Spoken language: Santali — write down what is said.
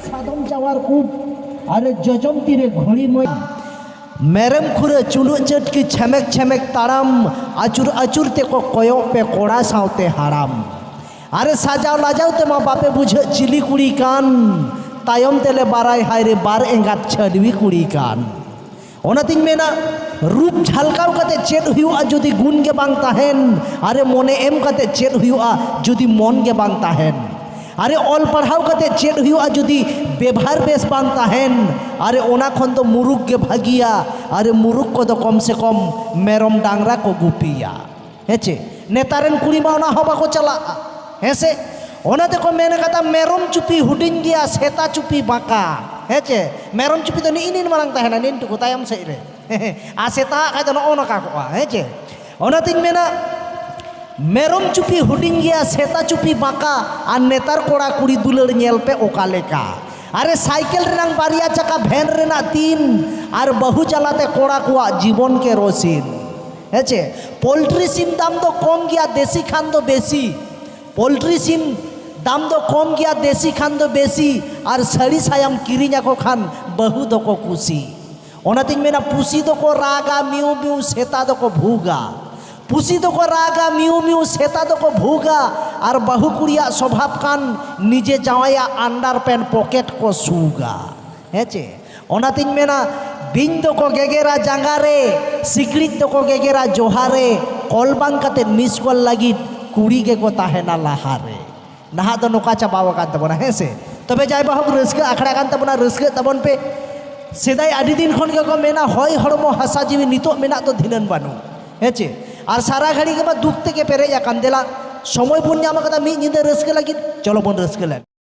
ᱥᱟᱫᱚᱢ ᱡᱟᱣᱟᱨ ᱠᱚ ᱟᱨ ᱡᱚᱡᱚᱢ ᱛᱤᱨᱮ ᱜᱷᱚᱲᱤ ᱢᱚᱭ ᱢᱮᱨᱮᱢ ᱠᱷᱩᱨᱟᱹ ᱪᱩᱞᱩᱜ ᱪᱟᱹᱴ ᱠᱤ ᱪᱷᱮᱢᱮᱠ ᱪᱷᱮᱢᱮᱠ ᱛᱟᱲᱟᱢ ᱟᱹᱪᱩᱨ ᱟᱹᱪᱩᱨ ᱛᱮᱠᱚ ᱠᱚᱭᱚᱜ ᱯᱮ ᱠᱚᱲᱟ ᱥᱟᱶᱛᱮ ᱦᱟᱲᱟᱢ ᱟᱨ ᱥᱟᱡᱟᱣ ᱞᱟᱡᱟᱣ ᱛᱮᱢᱟ ᱵᱟᱯᱮ ᱵᱩᱡᱷᱟᱹᱜ ᱪᱤᱞᱤ ᱠᱩᱲᱤ ᱠᱟᱱ ᱛᱟᱭᱚᱢ ᱛᱮᱞᱮ ᱵᱟᱨᱟᱭ ᱦᱟᱭᱨᱮ ᱵᱟᱨ ᱮᱸᱜᱟᱛ ᱪᱷᱟᱹᱰᱣᱤ ᱠᱩᱲᱤ ᱠᱟᱱ ᱚᱱᱟᱛᱤᱧ ᱢᱮᱱᱟ ᱨᱩᱯ ᱡᱷᱟᱞᱠᱟᱣ ᱠᱟᱛᱮ ᱪᱮᱫ ᱦᱩᱭᱩᱜᱼᱟ ᱡᱩᱫᱤ ᱜᱩᱱ ᱜᱮ ᱵᱟᱝ ᱛᱟᱦᱮᱱ ᱟᱨᱮ ᱢᱚᱱᱮ ᱮᱢ ᱠᱟᱛᱮ ᱪᱮᱫ ᱦᱩᱭᱩᱜᱼᱟ ᱡᱩᱫᱤ ᱢᱚᱱ ᱜᱮ ᱵᱟᱝ ᱛᱟᱦᱮᱱ ᱟᱨᱮ ᱚᱞ ᱯᱟᱲᱦᱟᱣ ᱠᱟᱛᱮ ᱪᱮᱫ ᱦᱩᱭᱩᱜᱼᱟ ᱡᱩᱫᱤ ᱵᱮᱵᱷᱟᱨ ᱵᱮᱥ ᱵᱟᱝ ᱛᱟᱦᱮᱱ ᱟᱨᱮ ᱚᱱᱟ ᱠᱷᱚᱱ ᱫᱚ ᱢᱩᱨᱩᱠ ᱜᱮ ᱵᱷᱟᱹᱜᱤᱭᱟ ᱟᱨᱮ ᱢᱩᱨᱩᱠ ᱠᱚᱫᱚ ᱠᱚᱢ ᱥᱮ ᱠᱚᱢ ᱢᱮᱨᱚᱢ ᱰᱟᱝᱨᱟ ᱠᱚ ᱜᱩᱯᱤᱭᱟ ᱦᱮᱸ ᱪᱮ ᱱᱮᱛᱟᱨ ᱨᱮᱱ ᱠᱩᱲᱤ ᱢᱟ ᱚᱱᱟ ᱦᱚᱸ ᱵᱟᱠᱚ ᱪᱟᱞᱟᱜᱼᱟ ᱦᱮᱸ ᱥᱮ ᱚᱱᱟ ᱛᱮᱠᱚ ᱢᱮᱱ ᱠᱟᱫᱟ ᱢᱮᱨᱚᱢ ᱪᱩᱯᱤ ᱦᱩᱰᱤᱧ ᱜᱮᱭᱟ ᱥᱮᱛᱟ ᱪᱩᱯᱤ ᱵᱟᱸᱠᱟ ᱦᱮᱸ ᱪᱮ ᱢᱮᱨᱚᱢ ᱪᱩᱯᱤ ᱫᱚ ᱱᱤᱜ ᱱᱤᱱ ᱢᱟᱨᱟᱝ ᱛᱟᱦᱮᱱᱟ ᱱᱤᱱ ᱴᱩᱠᱩ ᱛᱟᱭᱚᱢ ᱥᱮᱫ ᱨᱮ ᱟᱨ ᱥᱮᱛᱟ ᱠᱷᱟᱡ ᱫᱚ ᱱᱚᱜᱼᱚ ᱱᱚᱝᱠᱟ ᱠᱚᱜᱼᱟ ᱦᱮᱸ ᱪᱮ ᱚᱱᱟᱛᱤᱧ ᱢᱮᱱᱟ ᱢᱮᱨᱚᱢ ᱪᱩᱯᱤ ᱦᱩᱰᱤᱧ ᱜᱮᱭᱟ ᱥᱮᱛᱟ ᱪᱩᱯᱤ ᱵᱟᱸᱠᱟ ᱟᱨ ᱱᱮᱛᱟᱨ ᱠᱚᱲᱟ ᱠᱩᱲᱤ ᱫᱩᱞᱟᱹᱲ ᱧᱮᱞ ᱯᱮ ᱚᱠᱟ ᱞᱮᱠᱟ ᱟᱨᱮ ᱥᱟᱭᱠᱮᱞ ᱨᱮᱱᱟᱝ ᱵᱟᱨᱭᱟ ᱪᱟᱠᱟ ᱵᱷᱮᱱ ᱨᱮᱱᱟᱜ ᱛᱤᱱ ᱟᱨ ᱵᱟᱹᱦᱩ ᱡᱟᱞᱟᱛᱮ ᱠᱚᱲᱟ ᱠᱚᱣᱟᱜ ᱡᱤᱵᱚᱱ ᱠᱮᱨᱳᱥᱤᱱ ᱦᱮᱸ ᱪᱮ ᱯᱳᱞᱴᱨᱤ ᱥᱤᱢ ᱫᱟᱢ ᱫᱚ ᱠᱚᱢ ᱜᱮᱭᱟ ᱫᱮᱥᱤ ᱠᱷᱟᱱ ᱫᱚ ᱵᱮᱥᱤ ᱯᱳᱞᱴᱨᱤ ᱥᱤᱢ ᱫᱟᱢ ᱫᱚ ᱠᱚᱢ ᱜᱮᱭᱟ ᱫᱮᱥᱤ ᱠᱷᱟᱱ ᱫᱚ ᱵᱮᱥᱤ ᱟᱨ ᱥᱟᱹᱲᱤ ᱥᱟᱭᱟᱢ ᱠᱤᱨᱤᱧ ᱟᱠᱚ ᱠᱷᱟᱱ ᱵᱟᱹᱦᱩ ᱫᱚᱠᱚ ᱠᱩᱥᱤ ᱚᱱᱟᱛᱤᱧ ᱢᱮᱱᱟ ᱯᱩᱥᱤ ᱫᱚᱠᱚ ᱨᱟᱜᱟ ᱢᱤᱭᱩ ᱢᱤᱭᱩ ᱥᱮᱛᱟ ᱫᱚᱠᱚ ᱵᱷᱩᱜᱟ ᱯᱩᱥᱤ ᱫᱚᱠᱚ ᱨᱟᱜᱟ ᱢᱤᱭᱩ ᱢᱤᱭᱩ ᱥᱮᱛᱟ ᱫᱚᱠᱚ ᱵᱷᱩᱜᱟ ᱟᱨ ᱵᱟᱹᱦᱩ ᱠᱩᱲᱤᱭᱟᱜ ᱥᱚᱵᱷᱟᱵᱽ ᱠᱟᱱ ᱱᱤᱡᱮ ᱡᱟᱶᱟᱭᱟᱜ ᱟᱱᱰᱟᱨ ᱯᱮᱱᱴ ᱯᱚᱠᱮᱴ ᱠᱚ ᱥᱩᱜᱟ ᱦᱮᱸ ᱪᱮ ᱚᱱᱟᱛᱤᱧ ᱢᱮᱱᱟ ᱵᱤᱧ ᱫᱚᱠᱚ ᱜᱮᱜᱮᱨᱟ ᱡᱟᱸᱜᱟ ᱨᱮ ᱥᱤᱠᱲᱤᱡ ᱫᱚᱠᱚ ᱜᱮᱜᱮᱨᱟ ᱡᱚᱦᱟ ᱨᱮ ᱠᱚᱞ ᱵᱟᱝ ᱠᱟᱛᱮ ᱢᱤᱥ ᱠᱚᱞ ᱞᱟᱹᱜᱤᱫ ᱠᱩᱲᱤ ᱜᱮᱠᱚ ᱛᱟᱦᱮᱱᱟ ᱞᱟᱦᱟ ᱨᱮ ᱱᱟᱦᱟᱜ ᱫᱚ ᱱᱚᱝᱠᱟ ᱪᱟᱵᱟᱣ ᱟᱠᱟᱱ ᱛᱟᱵᱚᱱᱟ ᱦᱮᱸ ᱥᱮ ᱛᱚᱵᱮ ᱡᱟᱭ ᱵᱟᱦᱳᱠ ᱨᱟᱹᱥᱠᱟᱹ ᱟᱠᱷᱲᱟ ᱠᱟᱱ ᱛᱟᱵᱚᱱᱟ ᱨᱟᱹᱥᱠᱟᱹᱜ ᱛᱟᱵᱚᱱ ᱯᱮ ᱥᱮᱫᱟᱭ ᱟᱹᱰᱤ ᱫᱤᱱ ᱠᱷᱚᱱ ᱜᱮᱠᱚ ᱢᱮᱱᱟ ᱦᱚᱭ ᱦᱚᱲᱢᱚ ᱦᱟᱥᱟ ᱡᱤᱣᱤ ᱱᱤᱛᱚᱜ ᱢᱮᱱᱟᱜ ᱫᱚ ᱫᱷᱤᱱᱟᱹᱱ ᱵᱟᱹᱱᱩᱜ ᱦᱮᱸ ᱪᱮ ᱟᱨ ᱥᱟᱨᱟ ᱜᱷᱟᱹᱲᱤ ᱜᱮᱢᱟ ᱫᱩᱠ ᱛᱮᱜᱮ ᱯᱮᱨᱮᱡ ᱟᱠᱟᱱ ᱫᱮᱞᱟ ᱥᱚᱢᱚᱭ ᱵᱚᱱ ᱧᱟᱢ ᱟᱠᱟᱫᱟ ᱢᱤᱫ ᱧᱤᱫᱟᱹ ᱨᱟᱹᱥᱠᱟᱹ ᱞᱟᱹᱜᱤᱫ ᱪᱚᱞᱚ ᱵᱚᱱ ᱨᱟᱹᱥᱠᱟᱹ ᱞᱮᱱ